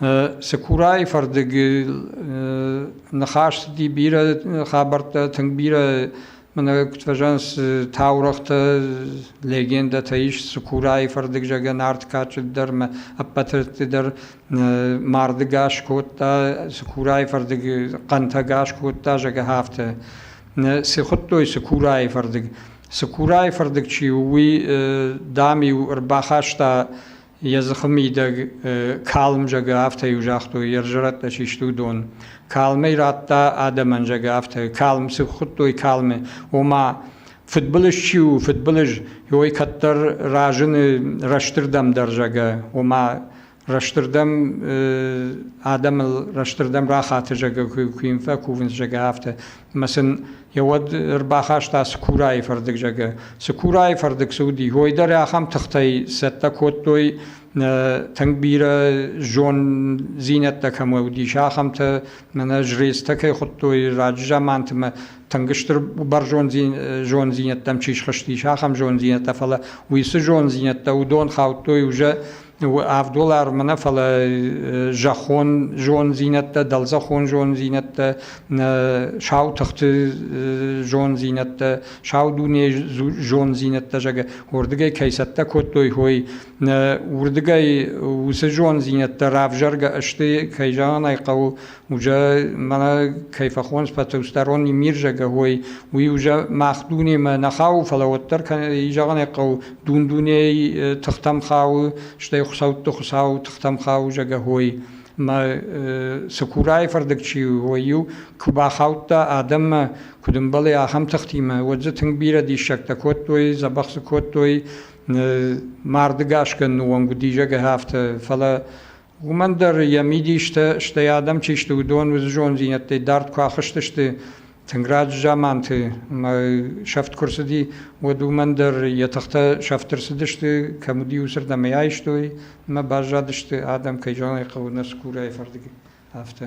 Цыкурайы фӕрдыгыл ныхас цыди бирӕ хабӕрттӕ, тынг бирӕ мӕнӕ куыд фӕзӕнс таурӕгътӕ, легендӕтӕ ис Цыкурайы фӕрдыг зӕгӕ Нартыкачы дӕр мӕ ӕппӕтырты дӕр марды гас кодта, Цыкурайы фӕрдыг хъӕнтӕ гас кодта зӕгӕ афтӕ. Цы хуыдтой Цыкурайы фӕрдыг? Цыкурайы фӕрдыг чи у, уый, дам-иу ӕрбахаста Йӕ дзыхы мидӕг калм зӕгы, афтӕ-иу загътой, йе взӕрӕттӕ систы уыдон. Калм ӕй радта адӕмӕн, зӕгы, афтӕ. Калм цы хуыдтой калмы, ома фыдбылыз чи у, фыдбылыз, ой кӕддӕр разыны рӕстырдӕм дӕр, зӕгы, ома рӕстырдӕм адӕмыл рӕстырдӕм рахаты, зӕгы, куы йын фӕкувынц, зӕгы, афтӕ. Ӕмӕ сын йӕ уӕд ӕрбахаста Цыкурайы фӕрдыг, зӕгъы. Цыкурайы фӕрдыг цы уыди, уой дӕр ахӕм тыхтӕй цӕттӕ кодтой, тынг бирӕ зондзинӕдтӕ кӕм уыдис, ахӕмтӕ мӕнӕ жрецтӕ кӕй хуыдтой раджы замантымӕ, тынг стыр бӕрзонддзин зондзинӕдтӕм чи схызтис, ахӕм зондзинӕдтӕ, фӕлӕ уыцы зондзинӕдтӕ уыдон хаудтой уже авдол армана фала зӕххон зондзийнӕдтӕ, дӕлзӕххон зондзийнӕдтӕ, сау тахти зондзийнӕдтӕ, сау дуне зондзийнӕдтӕ, зӕгӕ, уордигӕй кӕй цӕттӕ кодтой, хой уордигӕй уци зондзийнӕдтӕ равзаргӕ ӕсти, кӕй зӕгъӕн ӕй хъӕуы, Ужа мӕнӕ кӕй фӕхонс пӕтӕустарон имирзагӕ уой, уи ужа мах дунемӕ нӕ хау, фӕлӕ уӕддӕр зӕгъӕн хъӕу дун дуней тыхтӕм хауы, стӕй хуцӕутты хуцау тыхтӕм хауы зӕгӕ уой. Мӕ цыкурайы фӕрдыг чи у, уой-иу куы бахаудта адӕммӕ, куыд ӕмбӕлы ахӕм тыхтимӕ, уӕд дзы тынг бирӕ диссӕгтӕ кодтой, дзӕбӕх дзы кодтой, марды гасгӕ уӕнг уыди, зӕгӕ афтӕ. Фӕлӕ Уымӕн дӕр йӕ мидистӕ, стӕй адӕм чи сты, уыдон уыцы зонддзинӕдтӕй дард куы ахызтысты тынг раджы заманты ӕмӕ сӕфт куы рцыди, уӕд уымӕн дӕр йӕ тыхтӕ сӕфт ӕрцыдысты, кӕм уыди, уыцырдӕм ӕй айстой ӕмӕ баззадысты, адӕм кӕй зонын ӕй хъӕуы, нӕ цыкурайы фӕрдыг, афтӕ.